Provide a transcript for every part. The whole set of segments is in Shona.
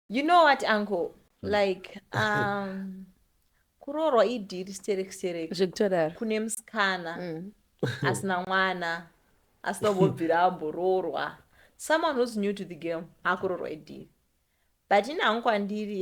you know what uncle hmm. like um, kuroorwa idhiri sterekistereki zvekutodaro kune musikana hmm. asina mwana asina kubvira amboroorwa someone who's new to the game akurorwa idhiri but ini hangu kwandiri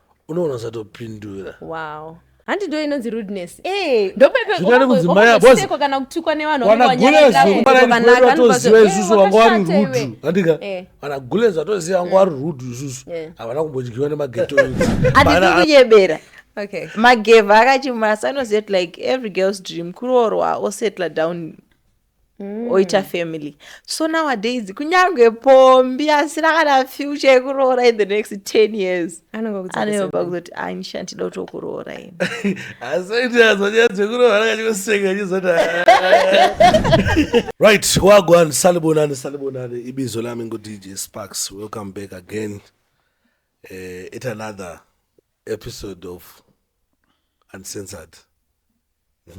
unoona usatopindura wow handi ndo inonzi rudeness eh, zvingani kudzimai apo kana kutukwa nevanhu wanagulezokumaaiatoziva isusu vanga vari rudu andika vanagulezo vatoziva vanga vari rudu isusu havana kumbodyiwa nemageto atikunyebera okay magevha akachimasa anoziva kuti like every girls dream kuroorwa osettle down mm. oita family so nowadays kunyange pombi asina kana future yekuroora in the next 10 years anoyoba kuzoti anisha ndida kuti okuroora ini right wagwan salibonani salibonani ibizo lami ngudj sparks welcome back again Uh, it another episode of uncensored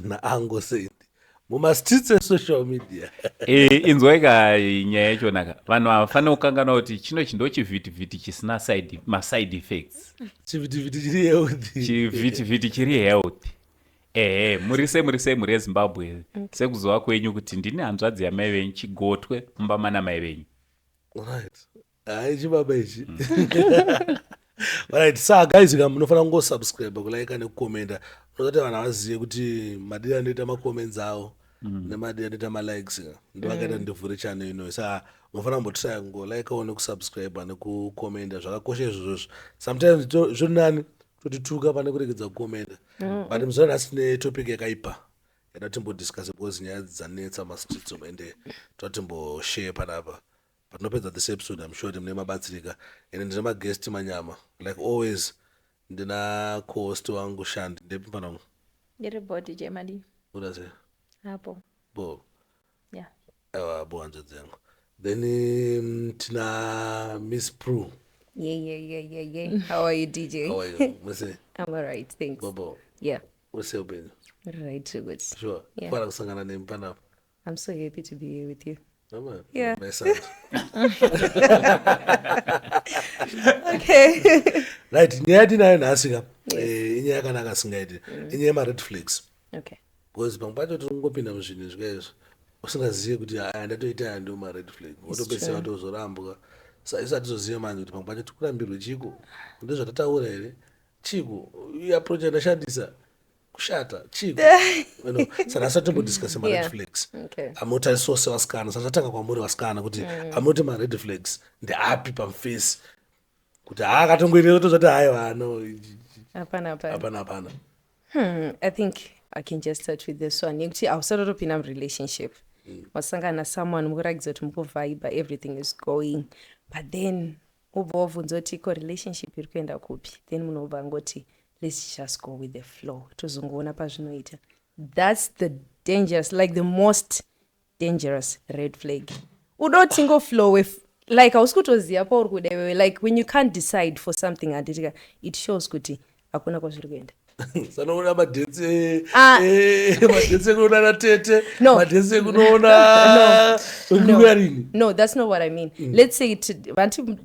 naango said mumastreets esocial media eh, inzwaika nyaya yachonaka vanhu havafanira kukanganwa kuti chino chindo chivhitivhiti chisina maside effects chivhitivhiti chiri healthy chivhitivhiti chiri healthy ehe muri se muri se muri yezimbabwe sekuzova kwenyu kuti ndini hanzvadzi yamai venyu chigotwe mumba mana mai venyu right Hai chibaba ichi. Right, sa guys ka munofanira kungosubscribe kulaika nekukomenta nozati vanhu havazive kuti madii anoita macomments avo mm. nemadii anoita malikes ndivakaita mm. ndivhure channel inoyo sa munofanira kumbotraya kungolaikawo nekusubscribe nekukomenta zvakakosha izvozvozvo sometimes zviri nani totituka pane kuregedza kukomenta mm. but muzana asi netopic yakaipa yatatimbodiscuse because nyaya dzanetsa mastreets omende tatimboshaye panapa Patinopedza this episode I'm sure kuti mune mabatsirika and ndine maguest manyama like always ndina cohost wangu Shandi ndepi mfana wangu? Ndiri body jemadi. Kuda sei? Apo. Bo. Yeah. Ewa bo hanzvadzi yangu. Then um, tina Miss Prue. Yeah, yeah, yeah, yeah, yeah. How are you, DJ? How are you? Mwese? I'm all right, thanks. Bobo? Yeah. Wese upenyu? Right, good. Sure. Yeah. Fara kusangana nempanapa. I'm so happy to be here with you. Mama, yeah. my son. okay. right, nyaya yatinayo nhasi ka eh, inyaya yakanaka asingaiti mm. inyaya yemared flags okay. because pamwe pacho tiri kungopinda muzvinhu zvikaizvo usingazive kuti aya ndatoita aya ndiwo mared flag wotopedzisira watozorambwa sa isu hatizozive manje kuti pamwe pacho tikurambirwe chiko ndizvatataura here chiko iapproach yandashandisa kushata chii saka asati timbodiscuse mared yeah. flags okay. amotarisawo sevasikana saka tatanga kwamuri vasikana kuti mm. amoti mared flags ndeapi pamufesi kuti haa akatongoita tozvati hayi vano hapana hapana hapana hmm, i think i can just start with this one yekuti ausatatopinda murelationship mm. wasangana mm. nasomeone mukuratidza kuti mukuvhiba everything is going but then ubva wabvunza kuti ko relationship iri kuenda kupi then munobva ngoti let's just go with the flow tozongoona pazvinoita thats the dangerous like the most dangerous red flag uda utingoflowe like hausi kutoziva pauri kuda iwewe like when you can't decide for something handitika it shows kuti hakuna kwazviri kuenda sanoona madhetse ah. eh, madhetse ekuona na tete madhetse ekunoona kuyarini no that's not what i mean mm. let's say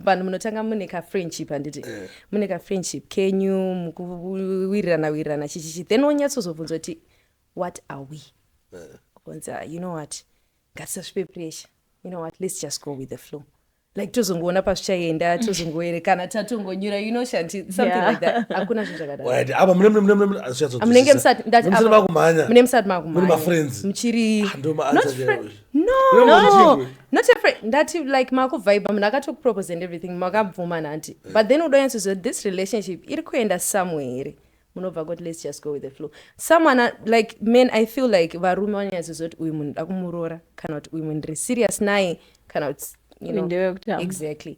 vanhu munotanga mune kafriendship handiti eh. mune kafriendship kenyu mukuwirirana wirirana chichichi then wonyatsozobvunza kuti what are we eh. kunzi ah, you know what ngatisasvipe pressure you know what let's just go with the flow like tozongoona pazvichaenda tozongoerekana tatongonyura you know shanti something yeah. like that hakuna zvinhu zvakadaamunenge musati makumhanya muchiri ah, no No, no Chingwe. not afraid ndati like makuvhaiba munhu akatokupropose and everything makabvuma nanti but then udoyatsoziva this relationship iri kuenda somewhere here munobva kuti let's just go with the flow someone a- like men i feel like varume vanonyatsoziva kuti uyu munhu da kumuroora kana kuti uyu munhu ndiri serious naye kana kuti you know, Ndewekutamba. exactly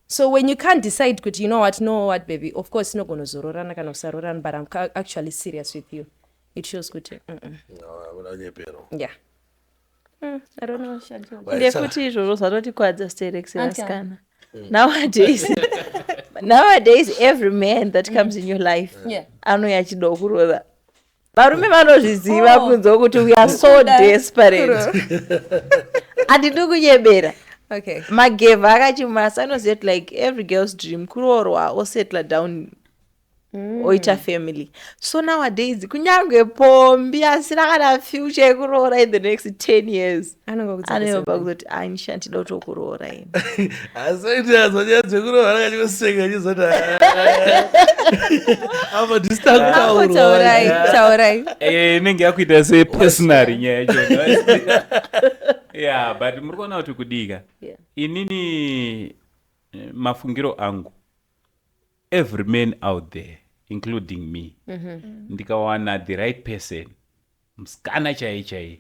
so when you can't decide kuti you know what no what baby of course tinogonozororana kana kusarorana but i'm ca- actually serious with you it shows kuti mm -mm. Ah, vanonyepera yeah Mm, I don't know. Well, it's a- ndekuti izvozvo zvatotikwadza sterex vasikana nowadays nowadays every man that comes in your life Yeah. anouya achidawo kurova varume vanozviziva Oh. kunzwa kuti we are so Kuda desperate handidi kunyebera okay magevha akachimasa anoziva kuti like every girl's dream kuroorwa osettla down mm. oita family so nowadays kunyange pombi asina kana future yekuroora in the next 10 years anoyoba kuzoti anisha ndida kuti okuroora ini asoiti azwa nyaya dzekuroora kachikoseka chizoti apa disitakuaurai taurai eh, inenge yakuita se personary nyaya yacho ya but muri kuona kuti kudika inini eh, mafungiro angu Every man out there including me ndikawana the right person musikana chaiye chaiye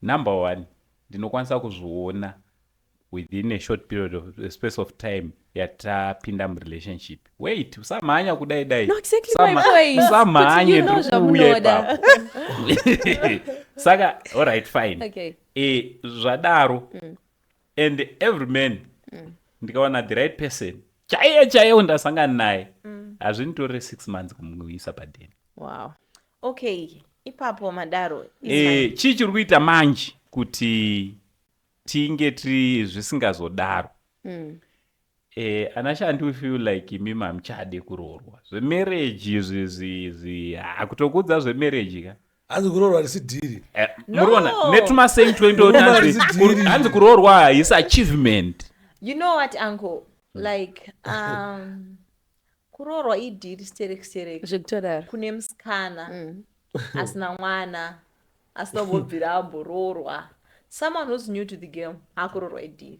number one ndinokwanisa kuzviona within a short period of a space of time yatapinda murelationship wait usamhanya kudai dai No, exactly my Usama- point. usamhanye Kuti you know ndiri kuuya zvamunoda. ipapo saka alright fine Okay. Eh, zvadaro and every man mm. ndikawana the right person chaiye chaiye undasangana naye mm. hazvinditorere mm. six months kumuisa padeni wow. okay ipapo madaro e, chii chiri kuita manje kuti tinge tiri zvisingazodaro mm. Eh, ana shanti we feel like imimi hamuchade kuroorwa zvemarriage izvi izvi izvi ah, kutokuudza zvemarriage ka hanzi kuroorwa harisi dhiri Eh, No. muriona netumasame twaindoona Kuroorwa hanzi harisi dhiri. kuro- hanzi kuroorwa haisi achievement you know what uncle like um, kuroorwa idhiri stereki stereki zvekutodaro kune musikana Mm. asina mwana asina kubvira amboroorwa someone who's new to the game akuroorwa idhiri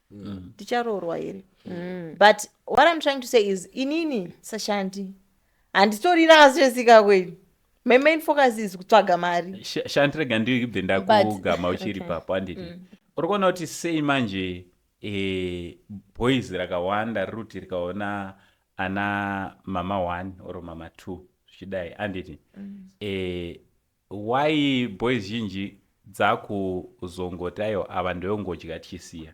mm. ticharoorwa here mm. but what im trying to say is inini sashandi handitorina asi zvesika kwenyu my main focus is kutsvaga mari shanti rega ndibve ndakugama uchiri okay. papo handiti mm. uri kuona kuti sei manje e, boys rakawanda riri kuti rikaona ana mama one or mama two zvichidai handiti mm. e, Why boys zhinji dzakuzongotayo ava ndoyongodya tichisiya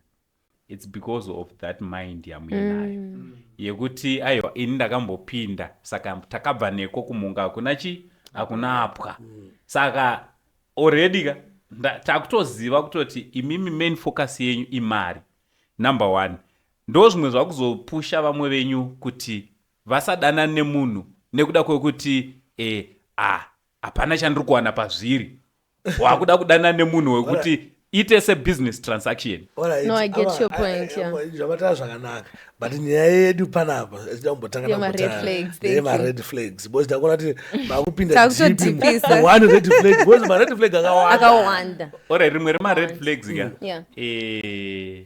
its because of that mind yamuinayo mm. yekuti aiwa ini ndakambopinda saka takabva neko kumunga hakuna chi hakuna apwa mm. saka already ka takutoziva kutoti imimi main focus yenyu imari number one ndo zvimwe zvakuzopusha vamwe venyu kuti vasadanane nemunhu nekuda kwekuti e a hapana chandiri kuwana pazviri wakuda kudanana nemunhu wekuti ite sebusiness transaction No, I get your point, yeah. zvavatara zvakanaka but nyaya yedu panapa zida kumbotanga Yema red flags, thank you. mared flags because ndakuona kuti makupinda Takutodhipisa. deep mu- one red flag because mared flag akawanda akawanda ore rimwe remared flags ka Yeah. Eh,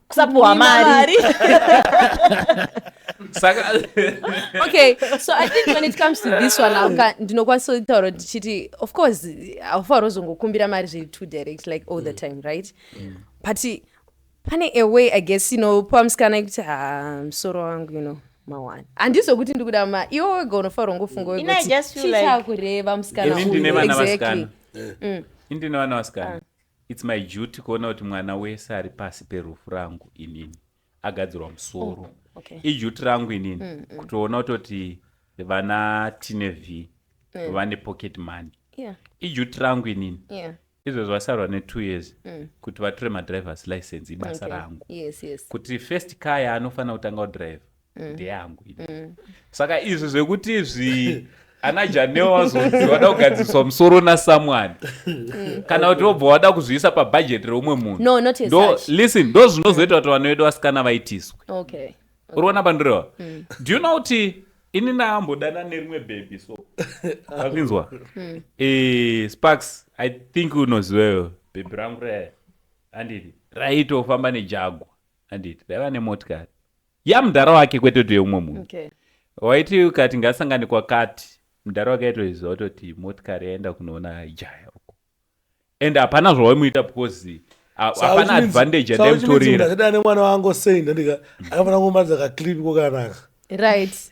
kusapuhwa mari okay so i think when it comes to this one auka ndinokwanisa kutaura tichiti of course haufanira kuzongokumbira mari zviri too direct like all the mm. time right mm. but pane a way i guess inopa musikana yekuti ha musoro wangu you know mawani handizo kuti ndikuda ma iwo wega unofanira ungofunga wekuti chichakureva musikana uyu exactly mm. indine vana vasikana ah. It's my duty kuona kuti mwana wese ari pasi perufu rangu inini agadzirwa musoro. Oh, okay. Iduty rangu inini mm, mm. kutoona kutoti vana tine v mm. vane pocket money. Yeah. Iduty rangu inini. Yeah izvozvo vasarwa netwo years mm. kuti vatore madrivers license ibasa okay. rangu yes, yes. kuti first car yaanofanira kutanga kudrive mm. ndeyangu mm. saka izvi zvekuti zvi ana janeo vazonzi vada kugadziriswa musoro nasamwani mm. kana kuti vobva wada kuzviisa pabhajeti reumwe munhulisten ndo zvinozoita kuti vana vedu vasikana vaitiswe uri kuona pandirewa mm. do you know kuti ini naambodana nerimwe bhebhi so akinzwa mm. eh, sparks i think unoziveyo bhebhi rangu raya anditi raitofamba nejagwa anditi raiva nemotikari ya mudhara wake kwete kuti yeumwe munhu okay. waiti ukati ngasangane kwakati mudhara wake aitoziva kutoti motikari yaenda kunoona jaya uko and hapana zvawaimuita because hapana advantage yandaimutorera ndakadana nemwana wangu sei ndandika akafanira kumaridza kaclip kokanaka right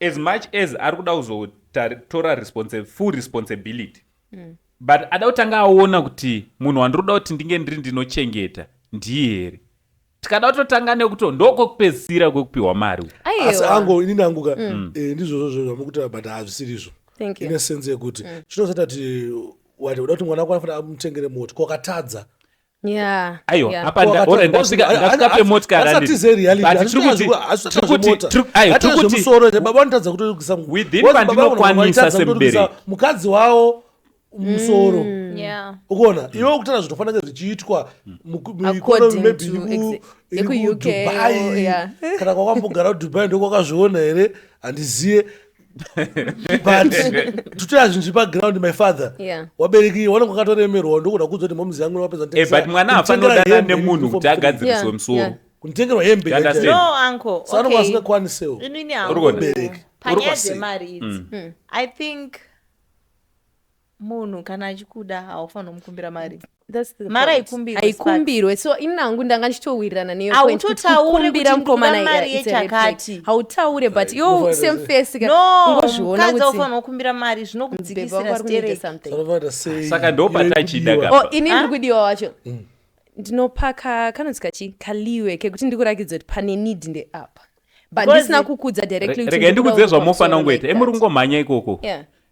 as much as ari kuda kuzotora response, full responsibility mm. but ada kutanga aona kuti munhu wandiri kuda kuti ndinge ndiri ndinochengeta ndiye here tikada kutotanga nekuti ndokwekupedzisira kwekupiwa mari asi ango inini angu ka mm. mm. eh, ndizvozvo zvo zvamukutaura but hazvisiri izvo ine sense yekuti mm. chinosata kuti wati uda kuti mwana wako anofanira amutengere moti kwakatadza aiwa apa ndasvikape motikarwithin pandinokwanisa semuberekimukadzi wawo musoro mm. ukuona iwe ukutaura zvinofanira kunge zvichiitwa mekudubai kana kwakwambogara kudubai ndokwakazviona here handizive but tutoya zvinhu zvipa ground my father yeah. wabereki wanenge wakatoremerwa ndokuda kuudza kuti momuzi yangu wapedza eh, but mwana hafanodana nemunhu kuti agadziriswe musoro kunitengerwa hembe sanonga asingakwanisewo panyaya dzemari idzi hmm. hmm. i think munhu kana achikuda haufanira kumukumbira mari mari haikumbirwe so inangu ndanga ndichitowirirana neyohautotaurekumbira mukomanamari yechakati hautaure but yo same face ungozviona kuti ufanira kukumbira mari zvinokudzikisira saka ndopatachida kapa oh, ini ndiri kudiwa wacho mm. ndinopaka kanonzi kachi kaliwe kekuti ndikurakidza kuti pane need ndeapa but ndisina kukudza directly rega ndikudze zvamofanira kungoita emuri kungomhanya ikoko yeah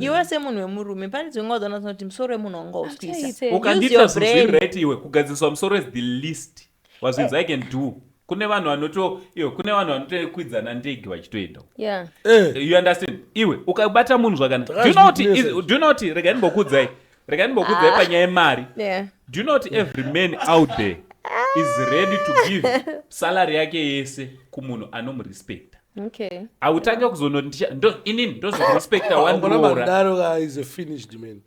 iwe semunhu wemurume pane dzimwe nguva dzaona tinoti musoro wemunhu wanga uswisa ukandiita zviri right iwe kugadziriswa musoro is the least wazvinzi eh. i can do kune vanhu vanoto iwe kune vanhu vanotokwidzana ndege vachitoenda yeah. Eh. you understand iwe ukabata munhu zvakanaka do you know kuti regai ndimbokuudzai rega ndimbokudzai ah. panyaya yemari do you know kuti every man out there is ready to give salary yake yese kumunhu anomurespecta okay autanga kuzonoti inini ndozokurespecta wanroraaisafinishedman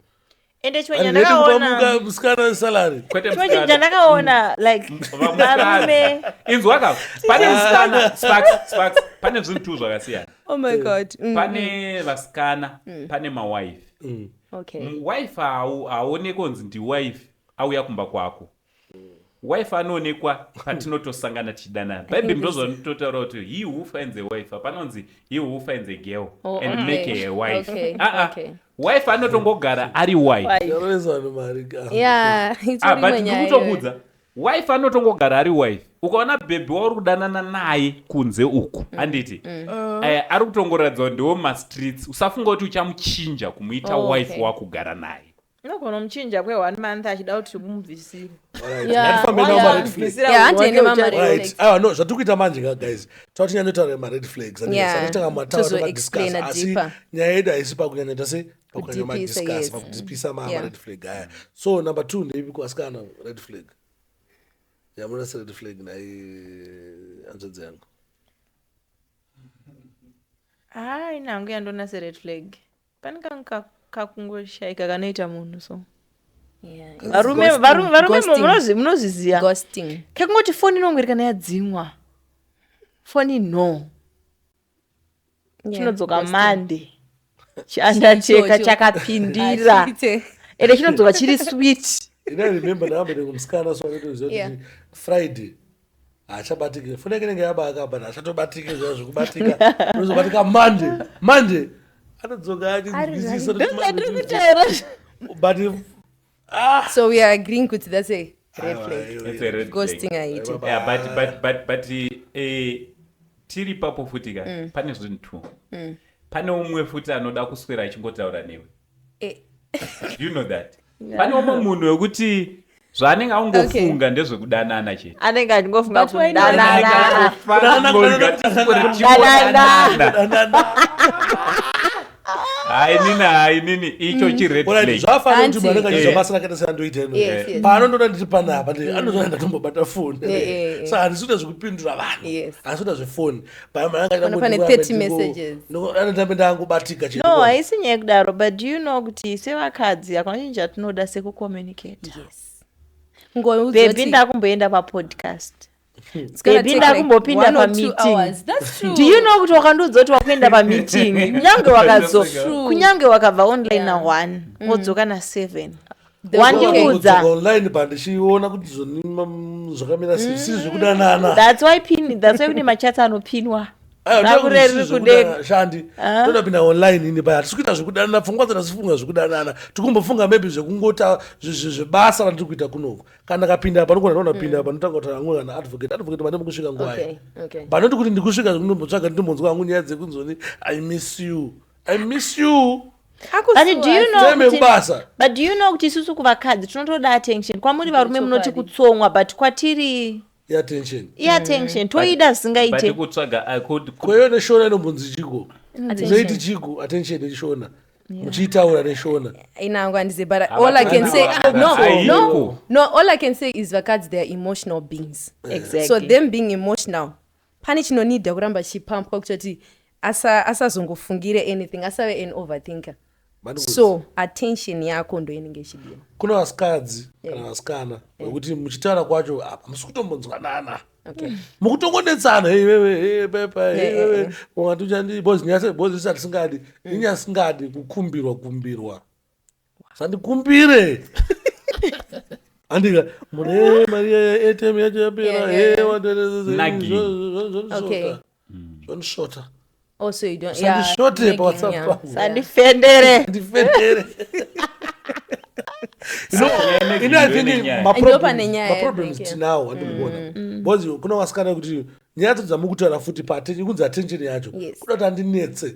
ende chimwe chandakaonamusikana salary chimwe chinhu chandakaona like varume inzwa ka pane musikana sparks sparks pane zvinhu two zvakasiyana oh my god mm. pane vasikana mm. pane mawife mm. Okay. M- wife hau- haaonekwe kunzi ndiwife auya kumba kwako wife anoonekwa patinotosangana tichidanana bhaibheri ndozvanototaura kuti he who finds a wife panonzi he who finds a girl Oh, and okay. make her a wife Okay, Ah, ah. okay. wife anotongogara ari wife Why? Yaro yesu ane mari ka. Yeah, it's Ah, but really nyaya ndikutokuudza Wife anotongogara ari wife. Ukaona bhebhi wauri kudanana naye kunze uku, mm. handiti? Mm. Uh. Eh, ari kutongoratidza ndiwo mastreets. Usafunga kuti uchamuchinja kumuita oh, wife okay. wakugara naye. Unogona muchinja kwe one month achida kuti mubvisire. Awa no zvatiri kuita manje ka guys tauti nyanya taura mared flags aneaatanga mataura nemadiscuss asi nyaya yedu haisi pakunyanya tase kudipisa mared flag aya so number two ndeipi kuasikana red flag yamuna sered flag nai hanzvadzi yangu haa ini hangu yandona sered flag pane kangu kakungoshaika kanoita munhu so varume varume munozviziva kekungoti foni inongoerekana yadzimwa foni no chinodzoka mande chanda cheka chakapindira ende chinodzoka chiri sweet friday haachabatike foni yake inenge yabaakabana hachatobatike zva zvekubatika unozobatika mande mande anodzoka achizisisa but ah. so we are agreeing kuti that's a red flag ghosting aiti yeah, but, but, but, but eh, tiri papo futi ka mm. pane zvinhu two mm. pane umwe futi anoda kuswera achingotaura newe eh. you know that pane umwe munhu wekuti zvaanenge aungofunga ndezvekudanana chete anenge achingofunga kudanana hainini hainini icho mm. chiredflagbasakatsandoitapaanondoda eh. ndiri panapa mm. anozona ndatombobata foni eh, eh, sa handisi kuda zvekupindura vanhu handisi kuda zvefoni paaanotamba ndangobatika no haisi nyaya kudaro but do you know kuti sevakadzi hakuna chinhu chatinoda sekucommunicate bebi ndakumboenda papodcast ndipinda kumbopinda pameetingdiyouno kuti wakandiudza kuti wakuenda pameeting kunyange wakazo kunyange wakabva online na one mm. wodzoka na seven wandiudza online pandichiona kuti zvakamira sei si zvekudanana that's why pin that's why kune machats anopinwa shandi toda pinda online ini paya tisi kuita zvekudanana pfungwa dzana sifunga zvekudanana tikumbofunga maybe zvekungota zvebasa ratiri kuita kunoko kana ndakapinda apa ndogona ndaona pinda apa ndotanga kutaura hangu kana advocate advocate pane mukusvika nguva Okay, yayi okay. panoti kuti ndikusvika zvindombotsvaga nditombonzwa hangu nyaya dzekunzoni i miss you i miss you Akusuwa, But do you asi- know Time kuti- yekubasa. But do you know kuti isusu kuvakadzi tinotoda attention. Kwamuri varume munoti Chokwadi. kutsomwa but kwatiri yeattention yeattention mm. toida zvisingaite kutsvaga i could kweyo neshona inombonzi chiko zvoiti chiko attention neshona muchiitaura neshona inangu andize but all i can say no no no all i can say is vakadzi they are emotional beings exactly. so them being emotional pane chinonida kuramba chichipampwa kuchati asa asazongofungire anything asave an overthinker so attention yako ndo inenge ichidiwa kuna vasikadzi kana yeah. vasikana vekuti yeah. muchitaura kwacho apa musi kutombonzwanana Okay. mukutongonetsana iwewe pepa iwewe wati uchandi bozi nyase bozi risati singadi inyasingadi kukumbirwa kumbirwa sandikumbire andika mune eh, mari atm yacho yapera eh, zvandishota hmm. also you don't yeah, sandishote pawhatsapp yeah. sandifendere ndifendere maproblems tinawo andikuona mm. mm. because kuna wasikana kuti nyaya dzadzo dzamukutaura futi pakunzi attention yacho kuda kuti andinetse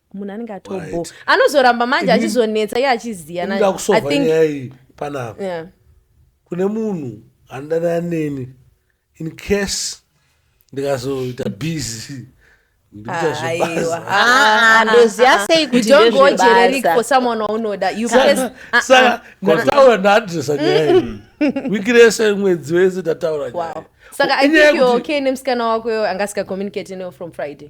munhu anenge atobho anozoramba manje achizonetsa iye achiziva nakusovayayi panapa yeah. kune munhu anodanana neni in case ndikazoita busy ndoziyasei kutigojereikosamanwaunodasaka ndataura ndaadresa nyaya wiki rese mwedzi wese ndataura nyaya saka i think you're okay nemusikana wako yo anga asika communicate neo from friday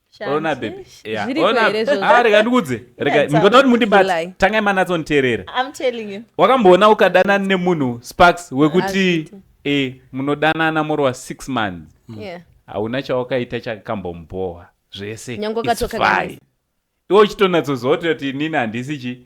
ona bebi ona ah, rega ndikudze rega ndinoda kuti mundibate tangai manatsoniteerera wakamboona ukadana nemunhu sparks wekuti e munodanana more wa six months hauna chawakaita chakambombowa zvese iwe uchitonatsozoti kuti inini handisi chi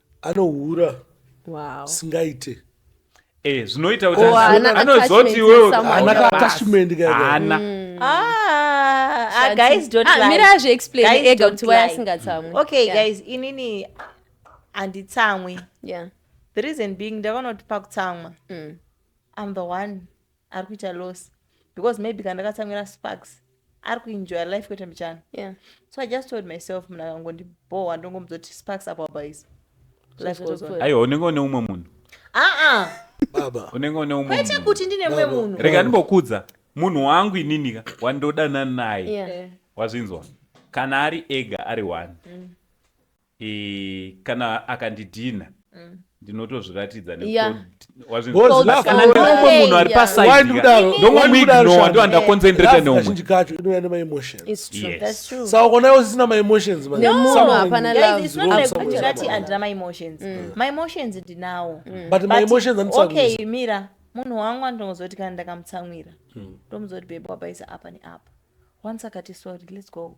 anohura wow. singaite Eh, zvinoita kuti oh, anozoti iwewe haana kaatachment kaana mm. ah, ah, guys don't ah, mira azviexplain ega kuti why asingatsamwi okay yeah. guys inini handitsamwi yeah. the reason being ndakanoti pakutsamwa mm. i'm the one ari kuita loss because maybe kana ndakatsamwira sparks ari kuenjoya life kwete mbichana yeah. so i just told myself munhu akangondibhowa ndongomudza kuti sparks apo apa izi life goes on aiwa unenge une umwe munhu aa baba unenge une umwe kwete munhu kuti ndine umwe munhu rega ndimbokudza munhu wangu ininika wandodana naye Yeah. Eh, wazvinzwa kana ari ega ari one kana akandidhinha ndinotozviratidza nekutindinomwe munhu ari pasaidomuignowandoandakonzentreta neumwezhinji kacho inouya nemaemotionssaukonayo zvisina maemotionsati andina maemotions mm. maemotions ndinawo mm. but maemotions andisaokay mira munhu wangu andinozoti kana ndakamutsamwira mm. ndomuzoti bebe wabaisa apa neapa once akati sorry let's go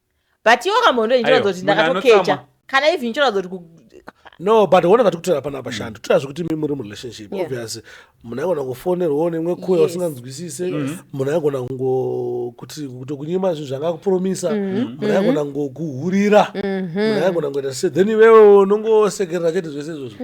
but iwo kamhondo iyi ndinoratidza kuti ndakatokecha kana even ndinoratidza kuti no but one vati kutora pana apa shando torazve kuti mi muri murelationship yeah. obviously munhu aigona kufonerwawo nemwe kuya usinganzwisise mm. munhu aigona kuti kunyima zvinhu zvanga akupromisa mm-hmm. mm-hmm. munhu aigona ngokuhurira mm-hmm. munhu aigona ngoita se then iwewe unongosekerera chete zvese izvozvo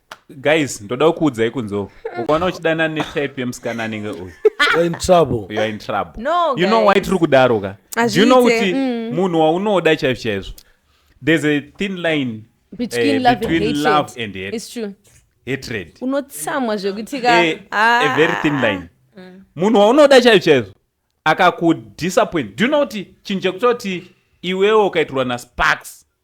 guys ndodawo kuudzai kunzoo ukaona uchidana netype yemusikana anenge uyu you know why tiri kudaro ka you know kuti mm. munhu waunoda chaizvo chaizvo there's a thin line between, uh, love, between and love and hate. It's true. hatred unotsamwa zvekutika eh, a ah. very thin line mm. munhu waunoda chaizvo chaizvo akakudisappoint do you know kuti chinhu chekutoti iwewo ukaitirwa nasparks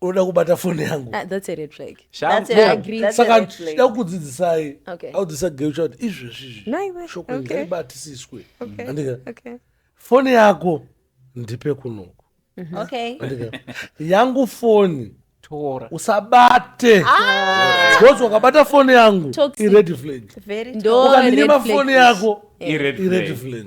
unoda kubata foni yangu Ah, that's a red flag. Shamhu- That's a Yeah, red- agree. that's a saka red flag. ndakudzidzisai Okay. audzisa geu chati izvezvi izvi Naiwe, shoko okay. ngaibatisiswe Okay. andika Okay. foni yako ndipe kunoku Okay. andika yangu foni tora usabate because wakabata foni yangu Toxic. ired flag Very Ndo- Oh, ukandinyima red flag foni is- yako ired ired flag flag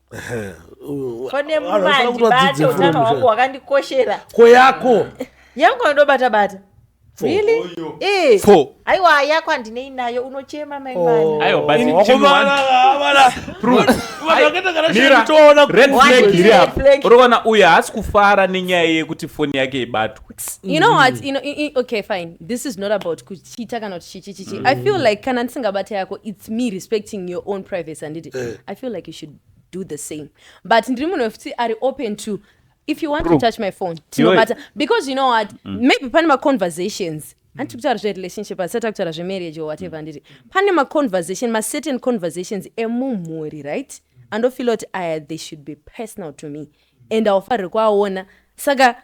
pane mumandibate utano hwangu hwakandikoshera ko yako yangu anodobata bata aiwa yako handinei nayo unochema maimaaiuroona uyo haasi kufara nenyaya yekuti foni yake ibatwe you know what, you know, okay fine this is not about kuti chiita kana kuti chichi chichi i feel like kana ndisingabate yako its me respecting your own privacy handiti Eh. i feel like you should do the same but ndiri munhu wekuti ari open to if you want to Proof. touch my phone tinobata because you know what maybe pane maconversations handiti kutaura zverelationship hasati akutaura zvemarriage or whatever handiti pane maconversation macertain conversations emumhuri right andofila kuti aya they should be personal to me and aufarire kuaona saka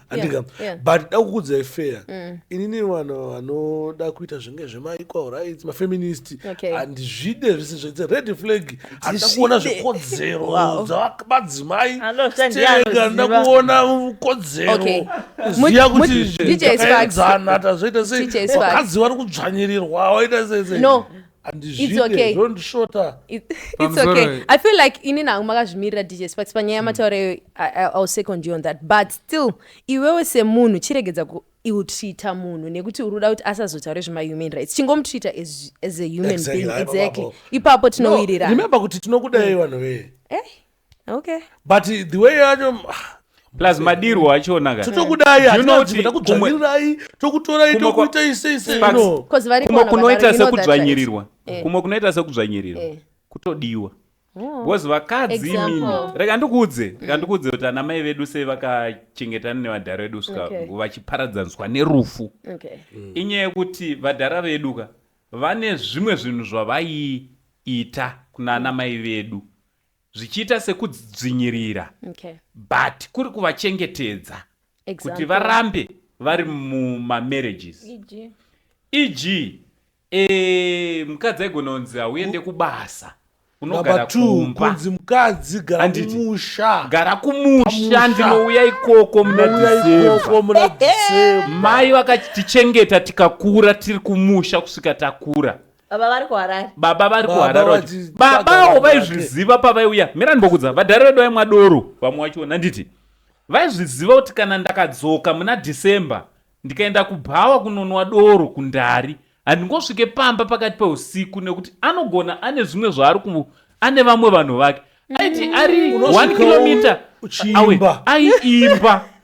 andika but da kukudzai fair mm. inini vanhu vanoda kuita zvinge zvemaequal rights mafeminist handizvide zvese zvese red flag handida kuona zvikodzero dzavamadzimai stega nda kuona kodzero ziya kutiaedzana tazoita sei vakadzi vari kudzvanyirirwa waita sei i feel like ini nangu makazvimirira dj sparks panyaya hmm. mataura iyo ill second you on that but still iwewe semunhu chiregedza kuiltreata munhu nekuti uri kuda kuti asazotaure zvemahuman rights chingomutreata as, as a human exactly. being exactly ipapo tinowiriraremember kuti tinokudai hmm. vanhu vee eh? okay but the way yacho plus madirwo achona ka totokudai You know kuti kumwe- takudzvanyirirai tokutorai kumwe kwa- tokuita ise ise Sparks. no Because vari kumwe kuona kunoita vagari, you know that, sekudzvanyirirwa right? Eh. kumwe kunoita sekudzvanyirirwa Eh. kutodiwa Oh. because vakadzi Example. imimi rega ndikuudze rega ndikuudze kuti ana mai vedu sei vakachengetana nevadhara vedu kusvika Okay. vachiparadzaniswa nerufu Okay. inyaya yekuti vadhara vedu ka vane zvimwe zvinhu zvavaiita kuna ana mai vedu zvichiita sekudzvinyirira okay. but kuri kuvachengetedza exactly. kuti varambe vari mumamarriages eg, EG, e, eh, mukadzi aigona kunzi hauende kubasa unogara kumba kunzi mukadzi gara kumusha gara kumusha ndinouya ikoko muna mai vakatichengeta tikakura tiri kumusha kusvika takura baba vari kuharare baba vari Baba kuharare wacho. vachitsvaga babawo vanhu vake. vaizviziva pavaiuya mira ndimbokudza vadhara vedu vaimwa doro vamwe wacho nanditi vaizviziva kuti kana ndakadzoka muna december ndikaenda kubhawa kunonwa doro kundari handingosvike pamba pakati peusiku nekuti anogona ane zvimwe zvaari ku ane vamwe vanhu vake aiti ari 1 Unosvikawo kilomita uchiimba. awe aiimba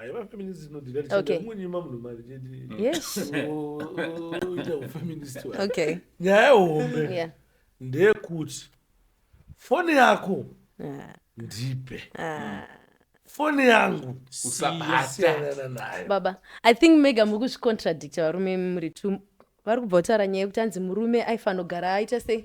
aiva feminist inodhira tichadamunima munhu mari chetiita ufeminist okay nyaya hombe ndeyekuti foni yako ah. ndipe ah. foni yangu usabata nayo baba i think mega muri kuzvicontradicta varume muri two vari kubva kutaura nyaya yekuti anzi murume aifanogara aita sei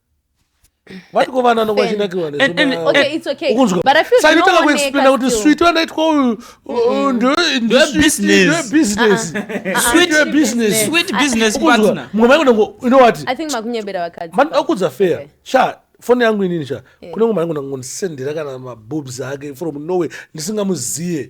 vatikovananovachinakirwasaitanga kuexplaina kuti switi vanaitwa uyu mumwe maingonango inowati manoda kudza fair sha foni yangu inini sha kunenge maingonango ndisendera kana mabobs ake from norway ndisingamuziye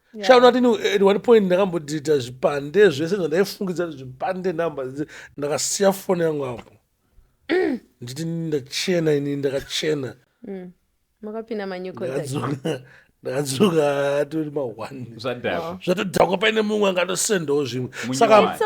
shaona kuti at one point ndakambodhirita zvipande zvese zvandaifungidza kuti zvipande number ndakasiya foni yangu apo nditi ndachena ini ndakachena mm. makapinda manyuko ndakadzoka atori maone zvatodhakwa paine mumwe angatosendawo zvimwe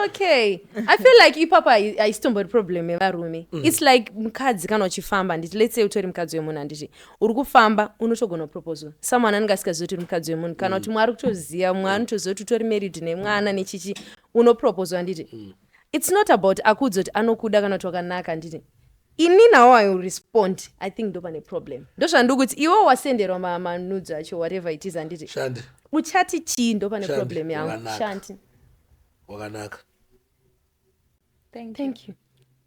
okay i feel like ipapa haisitombori problem yevarume mm. its like mukadzi kana uchifamba nditi let's say utori mukadzi wemunhu handiti uri kufamba unotogona kuproposwa someone anenge asingazivi kuti uri mukadzi wemunhu kana kuti mwari kutoziva mwe anotoziva kuti utori married nemwana nechichi unoproposwa handiti mm. its not about akuudza kuti anokuda kana kuti wakanaka handiti ini nawo i will respond i think ndo pane problem ndozvandiri kuti iwe wasenderwa manudzo acho whatever it is handiti uchati chii ndo pane problem yangu shanti wakanaka thank you, thank you.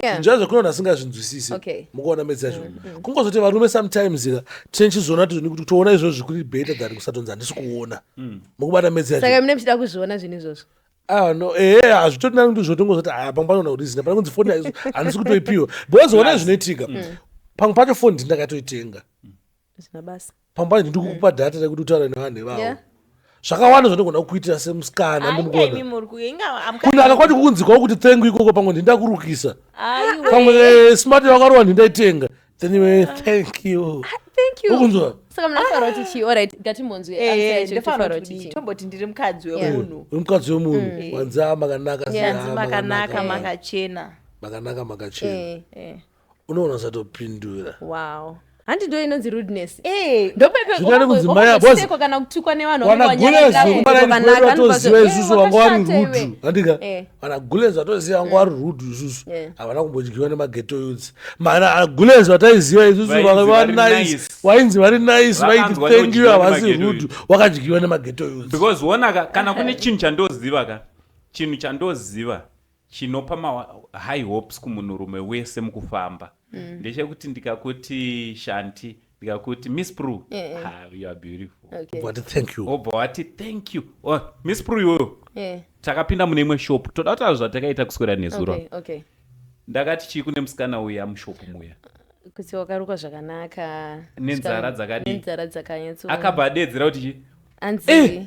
zvinjira yeah. zvekunoona asingazvinzwisisi okay. mukuona medzi yacho mm -hmm. kungozoti varume sometimes ka tine chizoona tizoni kuti toona izvozvo zvikuri better than kusatonzi handisi kuona mm. mukubata medzi yachosaka mine muchida kuzviona zvinhu izvozvo Ah, no, eh, eh hazvitoti nani kuti zvotongozoti ah, pamwe panoona kuti zina pane kunzi foni aizo handisi kutoipiwa because ona zvinoitika mm. pamwe pacho foni ndindakatoitenga zvinabasa pamba ndiri kukupa data rekuti utaure nevanhu ivavo Yeah. zvakawanda zvandigona kukuitira semusikana Aita imi ndimugona muri ku- inga I'm kunaka coming. kwacho kukunzikawo kuti thank you ikoko pamwe ndindakurukisa Aiwe. pamwe eh, smart yakarowa ndindaitenga then iwe thank you Thank you. ukunzwa Saka munofanira kuti chii? Alright, ngatimbonzwe answer Eh, yacho kuti ndofanira tofanira kuti kuti chii. tomboti ndiri mukadzi Yeah. wemunhu uri mukadzi wemunhu wanzi a makanaka Yeah. zina, hanzi makanaka makachena makanaka makachena Eh. Eh. unoona usatopindura wow handi ndo inonzi rudeness eh, zvinoda kudzimaya boziko kana kutukwa nevanhu wanagulezokubaatoziva isusu vanga vari rudu andika vanagulezi vatoziva vanga vari rudu isusu havana kumbodyiwa nemageto yuts mana agulezi vataiziva isusu vanga vari nice wainzi vari nice vaiti thank you havasi rudu wakadyiwa nemageto yuts because wonaka kana kune chinhu chandoziva ka chinhu chandoziva chinopa ma high hopes kumunhurume wese mukufamba mm. ndechekuti ndikakuti shanti ndikakuti miss pru yeah. ah, you are beautiful okay. wati thank you obva wati thank you oh, miss pru iyoyo yeah. takapinda mune imwe shop toda kutaura zvatakaita kuswera nezuro okay, okay. ndakati chii kune musikana uya mushopu muya kuti wakarukwa zvakanaka nenzara dzakadii akabva adedzera kuti chii anzi eh!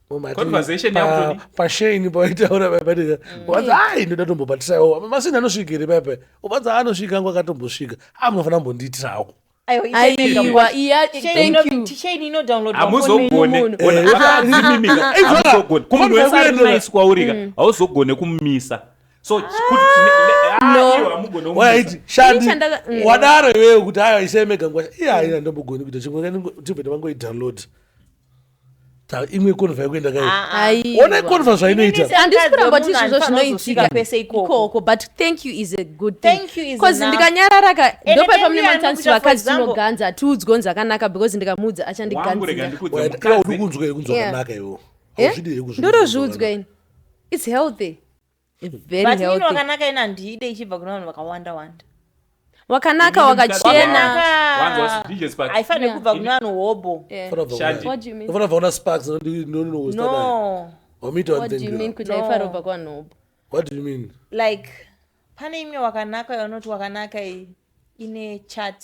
pashaini paitaura paipatika uvanza ai ndoda tombobatisaiwo masini anosvika here paipai uvanza anosvika angu akatombosvika a munofanira kumbondiitirawo hauzogone kumumisa so ah! waiti shandi mm. wadaro iwewe kuti ayo isemega ngwasha iye haina ndombogoni kuita chimwe tibve tavangoidownload imwe konva yakuenda kaiona konva zvainoitaandisi kuramba kuti izvozvo zvinoitika pese ikoko but thank you is a good thingcause ndikanyararaka ndopaipamune matansi vakadzi tinoganza hatiudzi konzi akanaka because ndikamuudza achandiganzirakunzwa kunzwa kanaka iwo ndotozviudzwa ini its healthy but ini wakanaka ini handiide ichibva kuna vanhu vakawanda wanda wakanaka wakachenaaifanire kubva kuna vanhu hobho like pane imwe wakanaka yaunoti wakanaka ine chat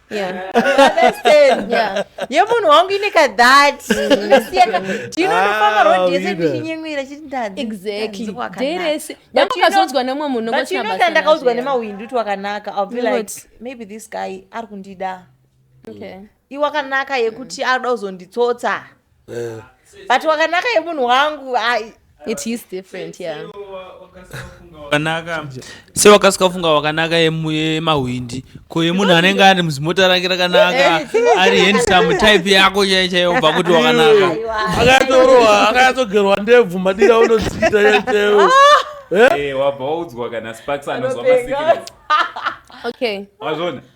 yemunhu wangu ine kadhati ndinonofamba rod yese ndichinyemwera chitidadakazonzwa nemwe munhunoda ndakaudzwa nemawindi kuti wakanaka ill be like maybe this guy ari kundida iwakanaka yekuti anoda kuzonditsotsa Eh. but wakanaka yemunhu wangu ai it is different yeah wakanaka se wakasika funga wakanaka yemu- yemahwindi ko yemunhu anenge ari muzimota rake rakanaka ari handsome type yako chaiyo chaiyo ubva kuti wakanaka akatorowa akatsogerwa ndebvu madira unodzita yaitewo Eh, wabva waudzwa kana sparks anozwa masikiresi okay wazvona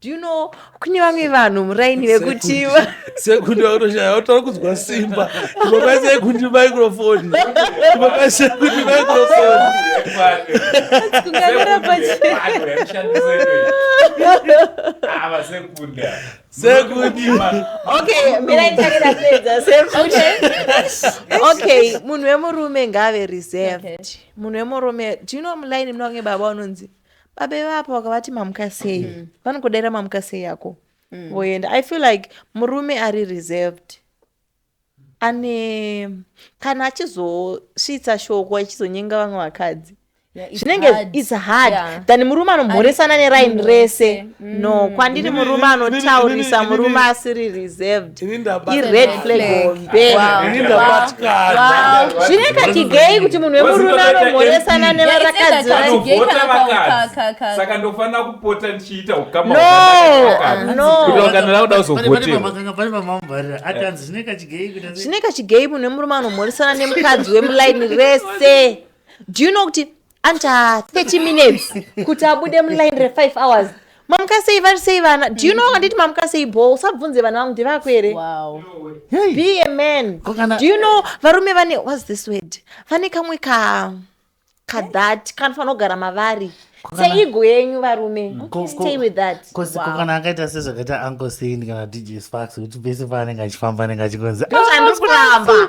do you know kune vamwe vanhu muraini vekuti sekundi vakutoshaya vatara kunzwa simba ipapai sekundi microfoni ipapai sekundi microfoni okay munhu wemurume ngaave reserved munhu wemurume do you know mulaini munange baba unonzi baba ivapa vakavati mamuka sei mm. vanokudaira mamuka sei yako mm. voenda i feel like murume ari reserved ane kana achizosvitsa shoko achizonyenga vamwe vakadzi zvinenge its hard yeah. than murume anomhoresana neraini rese Mm. no kwandiri murume anotaurisa murume asiri reserved ired flag hombezvine kachigei kuti munhu wemurume anomhoresana nevarakadziasaka ndofanira kupota ndichiita ukamazvine kachigei munhu wemurume anomhoresana nemukadzi wemulaini rese do you know kuti anta 30 minutes kuti abude muline re5 hours mamuka sei vari sei vana do you know wanditi mamuka sei bho usabvunze vana vangu ndivako here be a man do you know varume vane whats this word vane kamwe ka kadhat kanofanira kugara mavari seigo yenyu varume mm. stay with that kokana akaita sezvakaita uncle sain kana dj sparks kuti pese paanenge achifamba anenge achikonzi ah, andikuramba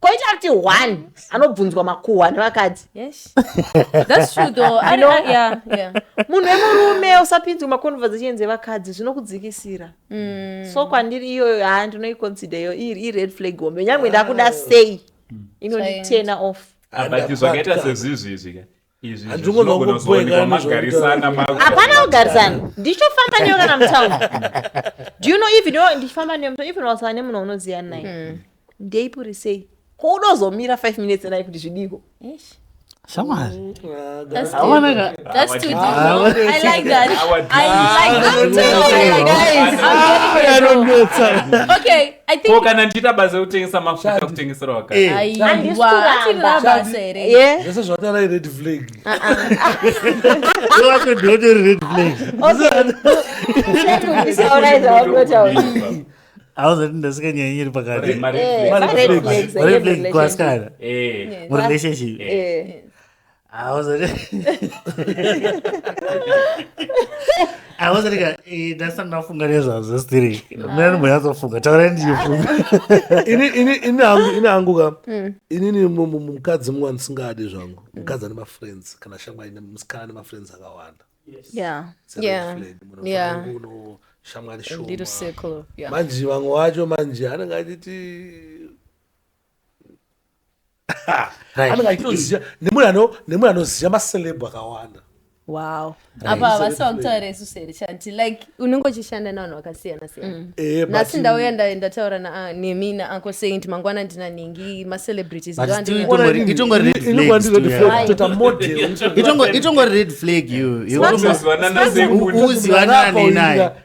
koita kuti one anobvunzwa makuhwa nevakadzi munhu wemurume usapinzwe maconversations evakadzi zvinokudzikisira mm. so kwandiri iyoyo haa ndinoiconsider iyo iri ired flag hombe nyange ndakuda sei inonditena off ah, but zvakaita sezvizvi izvi ka hapana kugarisana ndichofamba newe kana mutown do you know even ndichifamba newe mutown even wasava nemunhu unoziva naye hmm. ndeipuri sei ko udozomira five minutes naye kuti zvidiko shamwari anonetsa I think- ko kana ndichiita basa rekutengesa mafuta Shadi. kutengesera wakati Eh. Aiwa, Handisi kuramba. achiri rabasa here Yeah. zvese zvatara ired flag Iwacho ndinotori red flag. Taura izvo wakutotaura. Hauzoti ndasika nyaya iri pakati. Mari- mari- Eh, Mari red flag. flags, Red red flag flags. kuasikana. Eh, Murelationship. Eh. aozatika eh, ndasana ndafunga nezvazvo stiri mnani muyatsofunga taurai ndichifunga ini hangu ka hmm. inini mukadzi mumwe andisingadi zvangu mukadzi ane mafriends kana shamwari musikana ane mafriends akawanda shamwari shoma manje vamwe wacho manje anenge achiti anenge achitoziva nemunhu anoziva macelebhu akawanda wow apa havasi vakutaura isu seri chati like unenge uchishanda navanhu vakasiyana siyana mm. eh, nhasi ndauya ndataura ah, nemi naanko saint mangwana ndina ningi macelebritisitongoread flag uzivanani naye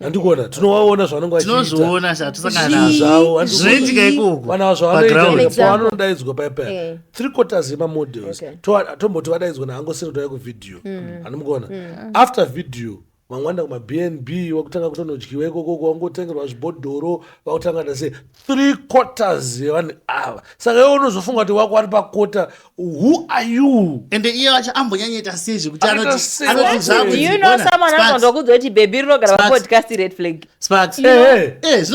andikuona tinovaona zvavanenge vachitinozoona zvatisangana zvavo zvinoitika ikoko vana zvavanoitaavanodaidzwa payapaya eh. three quarters yemamodels tomboti vadaidzwa naangosiri tauya kuvideo mm. anomukuona mm. after video mangwanda kumabnb wakutanga kutonodyiwa ikoko kwangotengerwa zvibhodhoro vakutanga nase three quarters yevanhu ava saka iwe unozofunga kuti wako ari pakota who are you ende iye wacho ambonyanyaita sei zvekuti anotizvakuzivandokuudza kuti bebi rinogara vapodcast red flag sparks eh, eh, eh,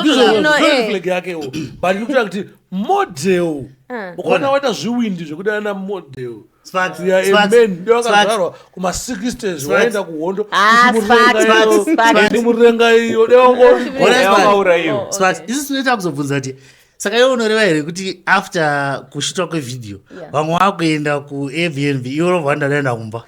yake but ndikutoda kuti model ah. ukaona waita zviwindi zvekuti ana model vakazvarwa kuma60 waenda kuhondo murenga iyo deongoauraiwo isu tinoita kuzobvunza kuti saka iwe unoreva here kuti after kushitwa kwevideo vamwe vakuenda kuairbnb iwe unobva wandaenda kumba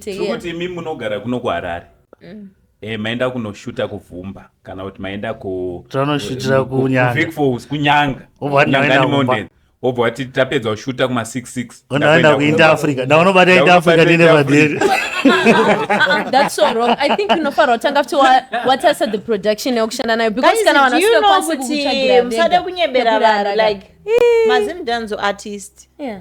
zvekuti imi munogara kuno kuharare mm. Eh, maenda kunoshuta kuvhumba kana kuti maenda kutonoshutira kunyangafikfos kunyanga nyanganimonden wobva wati tapedza kushuta kuma 66 ndaenda kuinda africa ndaunobata inda africa ndine vadheri that's so wrong i think unofanira kutanga futi watarisa the production yekushanda nayo because kana vanamusade kunyebera vanhu like mazimdanzo artist yeah.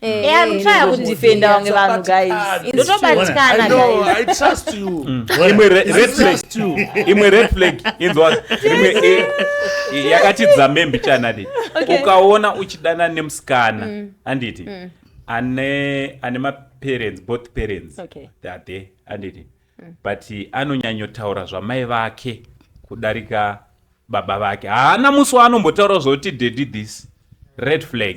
Eh, eh, anotraya kudefenda vamwe vanhu guysindotobatikana imwe red flag inzwa eh, yakatidza membi chanadi ukaona uchidana nemusikana mm. anditi mm. ane ane maparents both parents theyare anditi mm. but anonyanyotaura zvamai vake kudarika baba vake haana musi waanombotaura zvoti dedi this red flag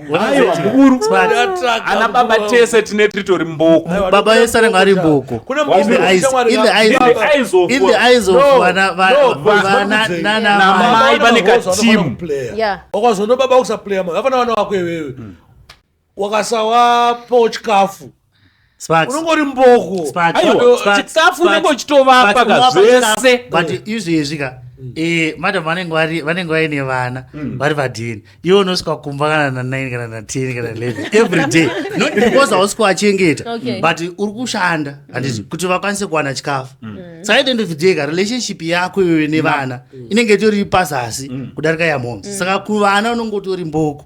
aiwa mukuru ana baba tese tine titori mboko baba yese anenge ari mboko namai vane katimu wakazono baba kusaplaya mavafana vana wako iwewe wakasawapo chikafu Sparks. unongori mboko Sparks. Aiwa, Sparks, chikafu Sparks, unenge uchitovapa Sparks, ka unowapa zvese. chikafu. but izvezvi ka eh, madam vanenge vari- vanenge vaine vana vari vadini iwe unosvika kumba kana na 9 kana na 10 kana 11 every day not because hausi kuachengeta Okay. but uri kushanda handiti kuti vakwanise kuwana chikafu saka at the end of the day ka relationship yako iwewe nevana inenge itori pazasi kudarika yamhoms saka kuvana unenge utori mboko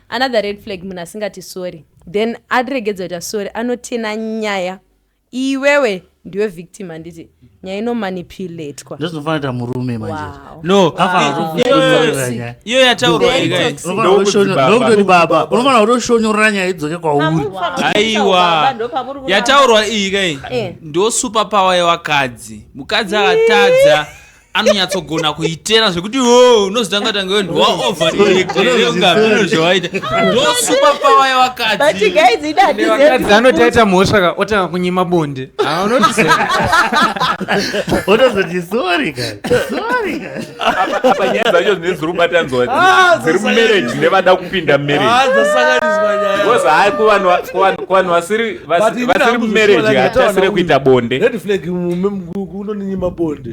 another red flag munhu asingati sorry then aregedza kuita sorry anotena nyaya iwewe ndiwe victim handiti nyaya inomanipulatwa ndozvinofanira murume manje no iyo yataurwaokutoti baba unofanira kutoshonyorora nyaya idzoke kwauri aiwa yataurwa iyi kai eh. ndo super power yevakadzi mukadzi akatadza anonyatsogona kuitera zvekuti oh, unozotanga tanga ndwaovaeungavinozvawaita ndosupapawa yevakadzi anotaita mhosva ka otanga kunyima bonde otozoti sori apa nyaya dzacho zvinee dziri kubatanzwa ah, dziri mumarriage nevada kupinda marriageoz ah, hai kuvanhu vasiri mumarriage hatasire kuita bonde unonyima bonde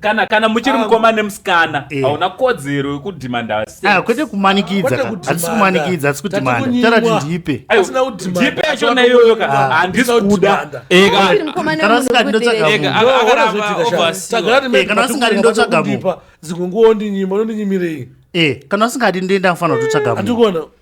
kana kana muchiri ah, mukoma nemusikana eh. hauna kodzero yekudhimanda ah, kwete kumanikidza hatisi kumanikidza hatisi kudhimanda tara kuti ndipe ndipe yacho naiyoyo ka ah. handisi kuda eh, kana usingadi ndotsvaga munhu dzimwe nguva ondinyima unondinyimirei kana usingadi ndoenda kufanira kutotsvaga munhu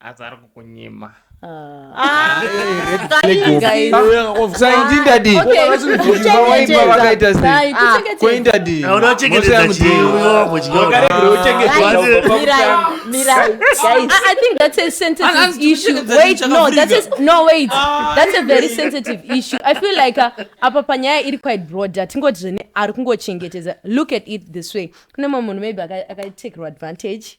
asi ari kukunyima apa panyaya iri quite broader tingoti zvene ari kungochengetedza look at it this way kune mumwe munhu maybe akatekerwa advantage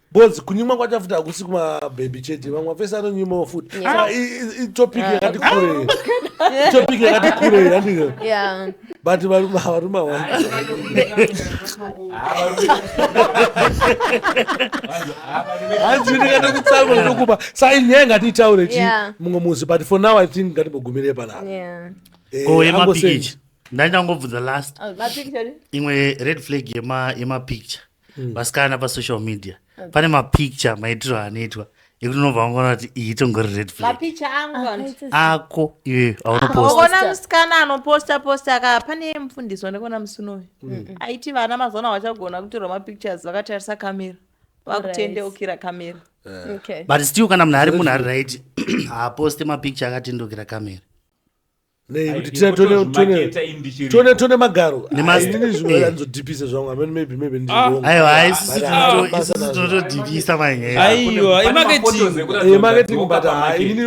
Bozi kunyimwa kwachafuta hakusi kuma baby chete vamwe vese anonyimwawo futi Yeah. Ah, i- i- itopic Ah. yakati kure itopic yakati kure handike Yeah. but varume havarume hawai hanzi ndikada kutsamwa ndokupa sa inyaya ngatiitaure chi Yeah. mumwe musi but for now i think ngatimbogumire panapa Yeah. Eh, ko yema ambosei. pikicha ndandangobvunza last Oh, mapikicha ni? imwe red flag yema yema picture mm. vasikana pasocial media okay. pane mapicture maitiro anoitwa ekunonobva vangoona kuti iyi itongori red flagmapicha ako iyoyo aunopostaona musikana anoposta posta aka pane mfundisi wandikuona musinoyo mm. aiti vana mazana hawachagona kutorwa mapictures vakatarisa kamera vakutendeukira kamera eh. but still kana munhu ari munhu ari right haaposte mapicture akatendeukira kamera tone tone magaro inini zvimwe anzodhipisa zvangu amene maybe maybe ndiriaiwa ah. isisi tinotodhipisa manyaiwa imarketing but inini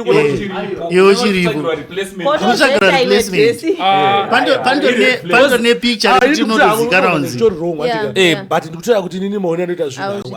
iwe uchiripo unotsvagira replacement pandone picture kuti unotozikanwa nzi but ndikutaura kuti inini maone anoita zvinhu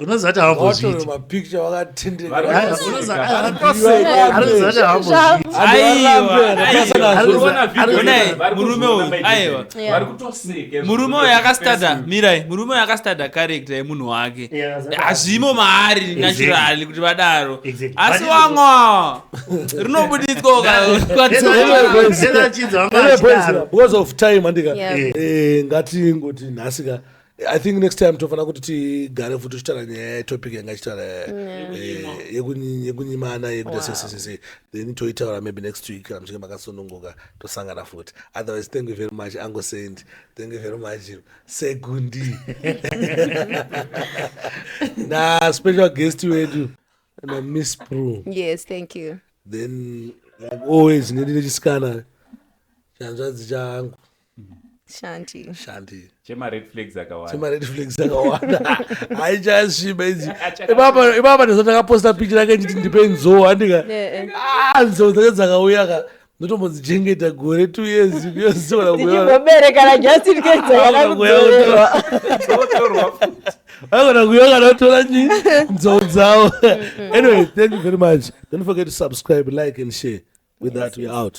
unozati haambozviiti mapicture wakatendeka murume uyu akastada mirai murume uyu akastada karekta yemunhu wake hazvimo maari naturali kuti vadaro asi wamwa rinobuditswa ukaaachinzwa because of time andika ngatingoti nhasika i think next time tofanira kuti tigare futi tichitaura nyaya yetopic yanga ichitaura eh, yekunyimana yekuita sesesese then toitaura maybe next week kana muchinge makasununguka tosangana futi otherwise thank you very much ango saint thank you very much segundi na special guest wedu na miss pro yes thank you then like always ndindinechisikana chanzvadzi changu shanti shanti chemared flags akawanda chemared flags akawanda haichasviba idzi ipapa ipapa ndizvo ndakaposta picha rake nditi ndipe nzoo andika ah nzoo dzake dzakauya ka ndotombodzichengeta gore two years yoziwanakuyoberekana just in case yakakudzorewa vagona kuyokana kutora nyi nzou dzavo anyway thank you very much don't forget to subscribe like and share with that we out